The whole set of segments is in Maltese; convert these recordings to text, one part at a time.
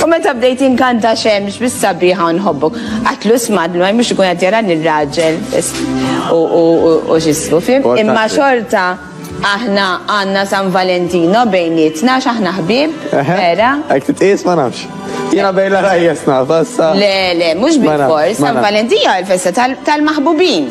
U meta bdejt inkanta xemx bis-sabiħa u nħobbok. Għatlu smadlu, għaj mux ikun għatjera nil-raġel u xisku, fim? Imma xorta aħna għanna San Valentino bejnietna, xaħna ħbib, vera. Għek titqis ma nafx. Jena bej la rajjes nafassa. Le, le, mux bil-fors, San Valentino għal-festa tal-maħbubin.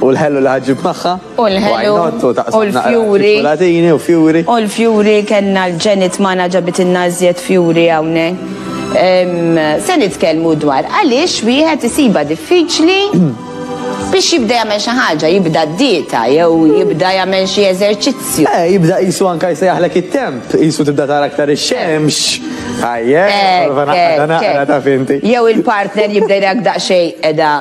U l-ħellu li ħagġib maħħa. U l-ħellu. U l-fjuri. Latini u fjuri. U l-fjuri kena l-ġenit maħna ġabit il-nazjet fjuri għawne. Se nitkelmu dwar, għalix wieħed isiba diffiċli biex jibda jagħmel xi ħaġa, jibda d-dieta jew jibda jagħmel xi eżerċizzju. Eh, jibda qisu anke jsejjaħlek it-temp, qisu tibda tara aktar ix-xemx. Ħajje, eh, eh, ta' finti. Jew il-partner jibda jrak daqsxejn qiegħda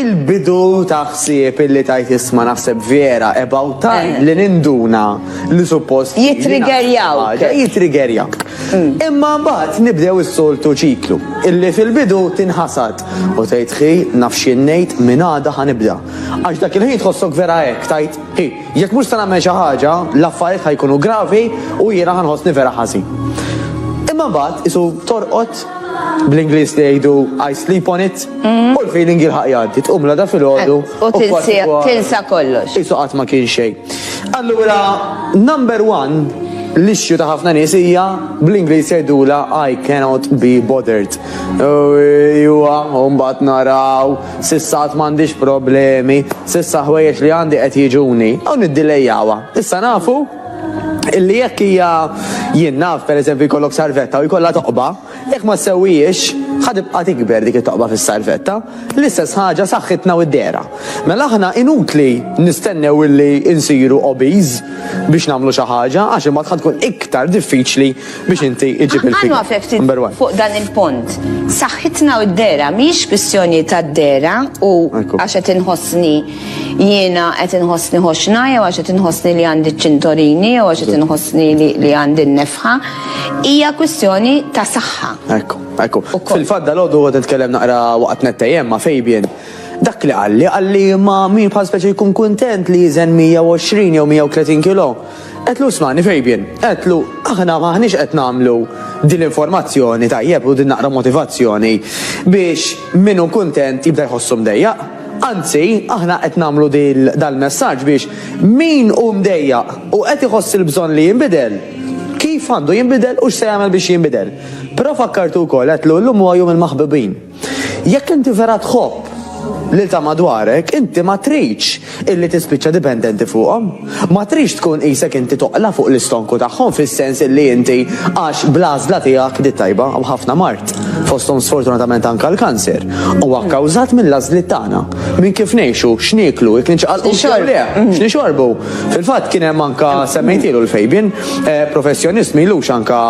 Il-bidu ta' ħsieb illi tgħid isma' naħseb Viera about time li ninduna li suppost fili naħseb xi Jitrigerjawk. ħaġa, jitrigerjawk. Imma mbagħad nibdew is-soltu ċiklu illi fil-bidu tinħasad u tgħid hi naf x'jien ngħid minn għada ħa nibda. Għax dak il-ħin tħossok vera hekk tgħid hi. Jekk mhux se nagħmel xi ħaġa, l-affarijiet ħa jkunu gravi u jiena ħa nħossni vera ħażin. Imma mbagħad qisu torqod, bl-Ingliż li jgħidu I sleep on it, mhm. u l-feeling jilħaq jgħaddi, tqum l-għada fil-ħodu. Eh, u tinsa kollox. Isu qatt ma kien xejn. Allura, number one, l-issue ta' ħafna nies hija bl-Ingliż jgħidula I cannot be bothered. Iwa, mbagħad naraw, S'issa għad m'għandix problemi, s'issa ħwejjeġ li għandi qed jiġuni. U niddilejjawha. Issa nafu illi jekk hija jien naf pereżempju jkollok sarvetta u jkollha toqba, jekk ma sewwiex ħadibqa' tikber dik it-toqba fis-sarvetta, l-istess ħaġa saħħitna u d-dera. Mela aħna inutli nistennew illi insiru obiż biex nagħmlu xi ħaġa għax imbagħad tkun iktar diffiċli Biex inti iġib il-figura. Għanwa fekti fuq dan il-pont. Saħħitna u d-dera, miex kwistjoni ta' d-dera u għax qed inħossni jiena qed inħossni ħoxna jew għax qed inħossni li għandi ċintorini jew għax qed inħossni li għandi n-nefħa. Hija kwistjoni ta' saħħa. Ekku, ekku. Fil-fadda l-għodu għed nitkellem naqra waqt nettejem ma' fejbien. Dak li għalli, għalli ma' min bħal speċi jkun kontent li jizen 120 jew 130 kilo. Għedlu smani Fabian, għedlu aħna maħniġ qed nagħmlu din l-informazzjoni tajjeb u din naqra motivazzjoni biex minu kuntent jibda jħossu mdejjaq. Anzi, aħna qed nagħmlu dal-messaġġ biex min hu mdejjaq u qed iħoss il-bżonn li jinbidel, kif għandu jinbidel u x'se jagħmel biex jinbidel. Però fakkartu wkoll għedlu llum huwa jum il-maħbubin. Jekk inti vera tħobb lil ta' madwarek, inti ma tridx illi tispiċċa dipendenti fuqhom. Ma tridx tkun qisek inti toqla' fuq l-istonku tagħhom fis-sens illi inti għax bl-għażla tiegħek di t-tajba hawn ħafna mard, fosthom sfortunatament anke l-kanser, huwa kkawżat mill-għażliet tagħna. Minn kif ngħixu, x'nieklu, jekk niċċaqalqux jew le, x'nixorbu. Fil-fatt kien hemm anke, semmejtielu l-fejbien, professjonist m'ilux anke,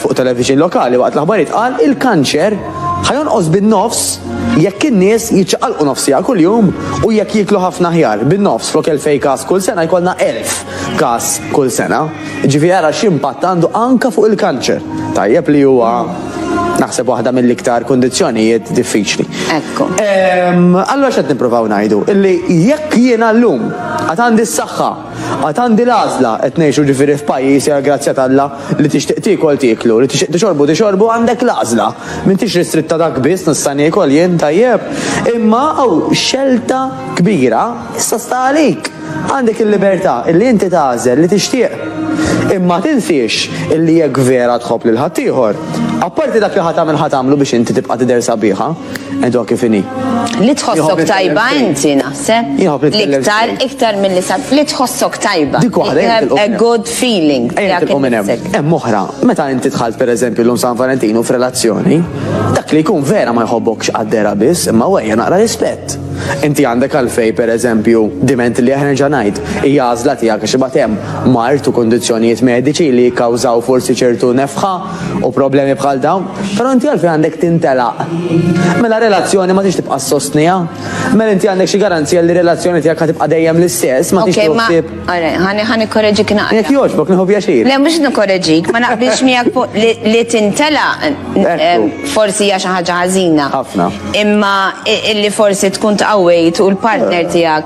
Fuq television lokali waqt l-aħbarijiet qal il-kanċer ħa jonqos bin-nofs jekk in-nies jiċċaqalqu nofs siegħa kuljum u jekk jieklu ħafna aħjar. Bin-nofs flok 2,000 każ kull sena jkollna 1,000 każ kull sena. Jiġifieri ara x'impatt għandu anke fuq il-kanċer. Tajjeb li huwa naħseb waħda mill-iktar kundizzjonijiet diffiċli. Ekku. Allura x'qed nippruvaw ngħidu? Illi jekk jiena llum għad għandi s-saħħa Għad għandi l-għażla, qed ngħixu ġifieri f'pajjiż, għal grazzja t'Alla, li tixtieq tiekol tieklu, li tixtieq tixorbu tixorbu, għandek l-għażla. M'intix ristritta dak biss nista' niekol jien, tajjeb? Imma hawn xelta kbira, issa sta għalik! Għandek il-libertà illi inti tagħżel li tixtieq. Imma tinsiex illi jekk vera tħobb lil ħaddieħor, apparti dak li ħa tagħmel ħa tagħmlu biex inti tibqa' tidher sabiħa. Edo kif inhi. Li tħossok tajba inti naħseb. L-iktar iktar mill-li sab li tħossok tajba. Dik waħda a good feeling. Hemm oħra, meta inti tħalt pereżempju l-lum San Valentinu f'relazzjoni, dak li jkun vera ma jħobbokx għaddera biss, imma wejja naqra rispett. Inti għandek għalfej pereżempju diment li aħna ġanajt, hija għażla tiegħek għax ibatem mart u kondizzjonijiet mediċi li jikkawżaw forsi ċertu nefħa u problemi bħal dawn, però inti għalfejn għandek tintelaq. Mela relazzjoni ma tix tibqa' sostnija. Mela inti għandek xi garanzija li relazzjoni tiegħek ħad tibqa' dejjem l-istess, ma tix toħsib. Ħani ħani korreġi kien Jekk jogħġbok nieħu pjaċir. Le mhux nikkorreġik, ma naqbilx miegħek li tintelaq forsi hija xi ħaġa ħażina. Ħafna. Imma illi forsi tkun tqawwejt u l-partner tiegħek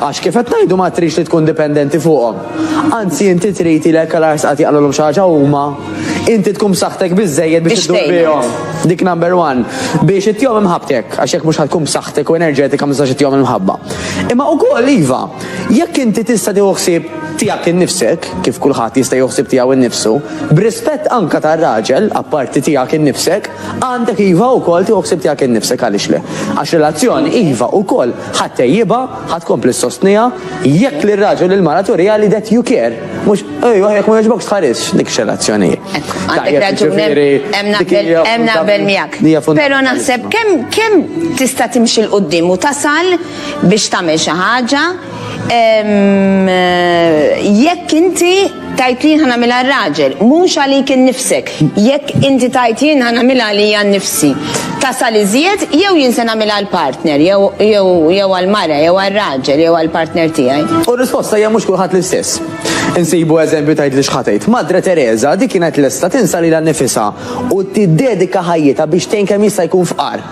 Għax kif qed ngħidu ma tridx li tkun dipendenti fuqhom. Anzi inti trid li jekk l-għarsa qatt jaqlgħulhom xi ħaġa huma, inti tkun b'saħħtek biżżejjed biex iddur bihom. Dik number one. Biex ittihom imħabbtek, għax jekk mhux ħa tkun b'saħħtek u enerġetika ma tistax ittihom l-mħabba. Imma ukoll iva, jekk inti tista' tieħu ħsieb tiegħek innifsek, kif kulħadd jista' jieħu ħsieb tiegħu nnifsu, b'rispett anke tar-raġel, apparti tiegħek innifsek, għandek iva ukoll tieħu ħsieb tiegħek innifsek għaliex le. Għax relazzjoni iva ukoll Ħa tejjibha, ħa tkompli ssostniha, jekk lir-raġel u l-mara turiha li that you care. Mhux, ejwa, jekk ma jogħġbokx tħarisx dik x'relazzjoni. Għandek raġun, hemm naqbel miegħek. Però naħseb kemm tista' timxi 'l quddiem u tasal biex tagħmel xi ħaġa jekk inti Tgħid li jien ħa nagħmilha għar-raġel, mhux għalik innifsek. Jekk inti tgħid jien ħa nagħmilha għalija nnifsi, tasal iżjed jew jien se nagħmilha għall-partner jew għall-mara jew għar-raġel jew għall-partner tiegħi. U r-risposta hija mhux kulħadd l-istess. Insibu eżempju tgħidli x'ħa tgħid. Madre Tereża dik kienet lesta tinsa lilha nnifisha u tiddedika ħajjitha biex tgħin kemm jista' jkun fqar.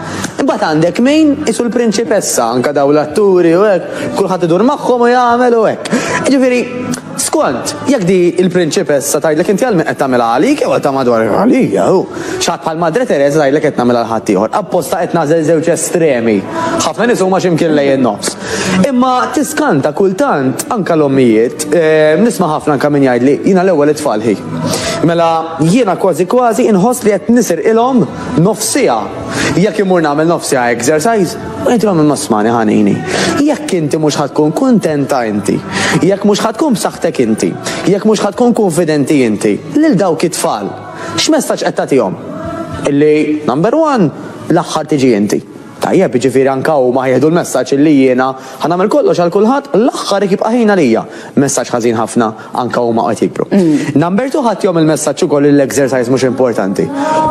Imbagħad għandek min qisu l-prinċipessa, anke dawn l-atturi u hekk, kulħadd idur magħhom u jagħmel u hekk. Jiġifieri, Skont, jekk di il-prinċipessa tgħidlek inti għal min qed tagħmilha għalik jew għal ta' madwar għalija hu. X'ħadd bħal Madre Teresa tgħidlek qed nagħmilha għal ħaddieħor. Apposta qed nagħżel żewġ estremi. Ħafna nies huma xi mkien lejn in-nofs. Imma tiskanta kultant anke l-ommijiet, eh, nisma' ħafna anke min jgħidli jiena l-ewwel it-tfal ħi. Mela jiena kważi kważi inħoss li qed nisirqilhom nofsiha. Jekk imur nagħmel nofsiha exercise, U inti għamil masmani ħanini. Jekk inti mhux ħatkun kuntenta inti, jekk mhux ħatkun b'saħħtek inti, jekk mhux ħatkun kunfidenti inti, lil dawk it-tfal, x'messaġġ qed tagħtihom? Illi, number one, l-aħħar tiġi inti. Tajjeb, jiġifieri anke huma ħajħdu l-messaġġ illi jiena ħa nagħmel kollox għal kulħadd, l-aħħar jibqa' ħin għalija. Messaġġ ħażin ħafna. Anka huma qed jikbru. Number two ħadthom il-messaġġ ukoll li l-exercise mhux importanti.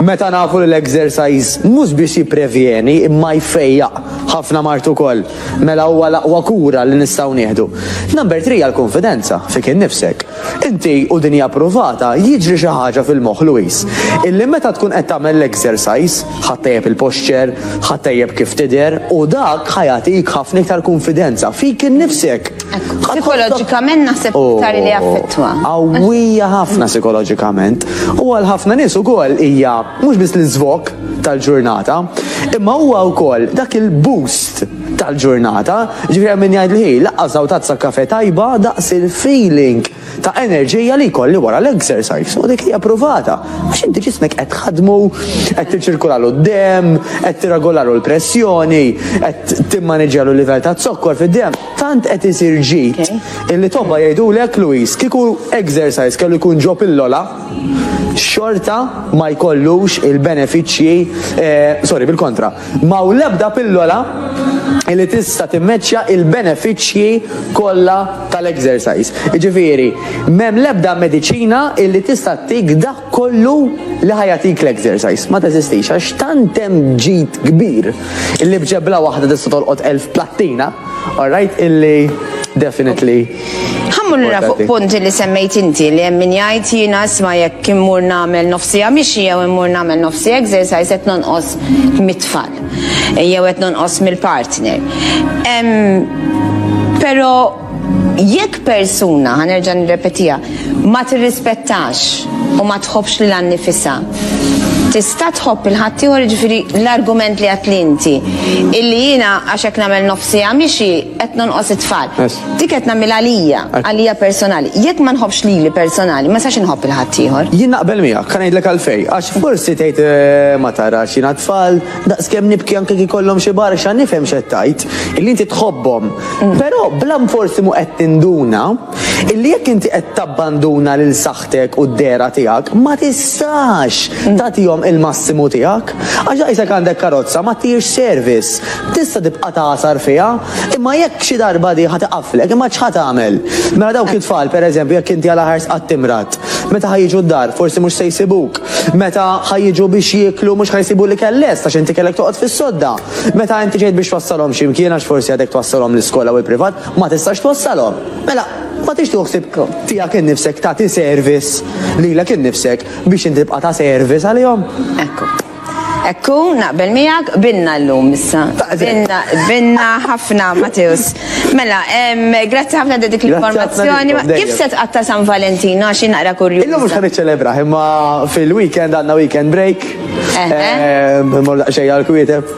Meta nafu li l-exercise mhux biex jipprevjeni imma jfejjaq ħafna mard ukoll, mela huwa l-aqwa kura li nistgħu nieħdu. Number three hija l-kunfidenza fik innifsek. Inti, u din hija ppruvata, jiġri xi ħaġa fil-moħħ Louise, illi meta tkun qed tagħmel l-exercise, ħa ttejjeb il-posture, ħa ttejjeb kif tidher, u dak ħa jagħtik ħafna iktar kunfidenza fik innifsek. Psikoloġikament naħseb oh, iktar li jaffettwa. Qawwija ħafna psikoloġikament. U għal ħafna nies ukoll hija mhux biss l-iżvok tal-ġurnata, imma huwa wkoll dak il-boost tal-ġurnata, ġifieri minn jgħid li ħej, laqqażaw tazza kafe tajba daqs il-feeling ta' enerġija li jkolli wara l-exercise. U dik hija pruvata, għax inti ġismek qed tħaddmu, qed tiċirkulalu d-demm, qed tirregolalu l-pressjoni, qed timmaniġġjalu l-livell ta' zokkor fid-demm. Tant qed isir ġid illi tobba jgħidulek Louise kieku exercise kellu jkun ġo pillola, xorta ma jkollux il-benefiċċji, sorry, bil-kontra, Ma hawn l-ebda pillola li tista' timmeċċja l-benefiċċji kollha tal-exercise. Jiġifieri, m'hemm l-ebda mediċina li tista' ttik dak kollu li ħa jagħtik l-exercise. Ma teżistix għax tant hemm ġid kbir li b'ġebla waħda tista' tolqot elf plattina, alright, illi definitely. Ħammur lura fuq punti li semmejt inti li hemm min jgħid jiena isma' jekk immur nagħmel nofsija mixi jew immur nagħmel nofsi exercise qed nonqos mit-tfal jew qed nonqos mill-partner. Però jekk persuna, ħa nerġa' nirrepetiha, ma tirrispettax u ma tħobbx lilha nnifisha, tista' tħobb lil ħaddieħor jiġifieri l-argument li għedtli inti illi jiena għax hekk nagħmel nofsija mixi qed nonqos it-tfal. Dik qed nagħmilha għalija, għalija personali. Jekk ma nħobbx lili personali, ma sax inħobb il-ħadd ieħor. Jien naqbel miegħek, kan ngħidlek għalfej, għax forsi tgħid eh, ma tarax jiena tfal, daqskemm nibki anke kif kollhom xi barxa nifhem x'qed tgħid, illi inti tħobbhom. Mm. Però blam forsi mu qed tinduna Illi jekk inti qed tabbanduna lil saħħtek u d-dehra tiegħek, ma tistax tagħtihom il-massimu tiegħek. Għax daqshekk għandek karozza ma ttirx service. Tista' tibqa' tagħsar fiha, imma jekk xi darba di ħa tiqaflek, imma x'ħa tagħmel? Mela dawk it-tfal, pereżempju, jekk inti għal aħars qatt timrad, meta ħa jiġu d-dar forsi mhux se jsibuk. Meta ħa jiġu biex jieklu mhux ħa jsibu l-ikel lest għax inti kellek toqgħod fis-sodda. Meta inti ġejt biex twassalhom xi mkien għax forsi għadek twassalhom l-iskola u l-privat, ma tistax twassalhom, mela ma tix tieħu ħsieb tiegħek innifsek tagħti service lilek innifsek biex inti tibqa' ta' service għalihom. Ekku. Ekku, naqbel miegħek binna llum issa. Binna, binna ħafna Mateus. Mela, em, grazzi ħafna da dik Grazzi ħafna l-informazzjoni. lilkom, dejjem. Kif se tqatta' San Valentino għax jien naqra kurjuż. Illum mhux ħan iċċelebra, imma fil-weekend għandna weekend break. Eħe. Ehm, Mor daqsxejn għal-kwieteb.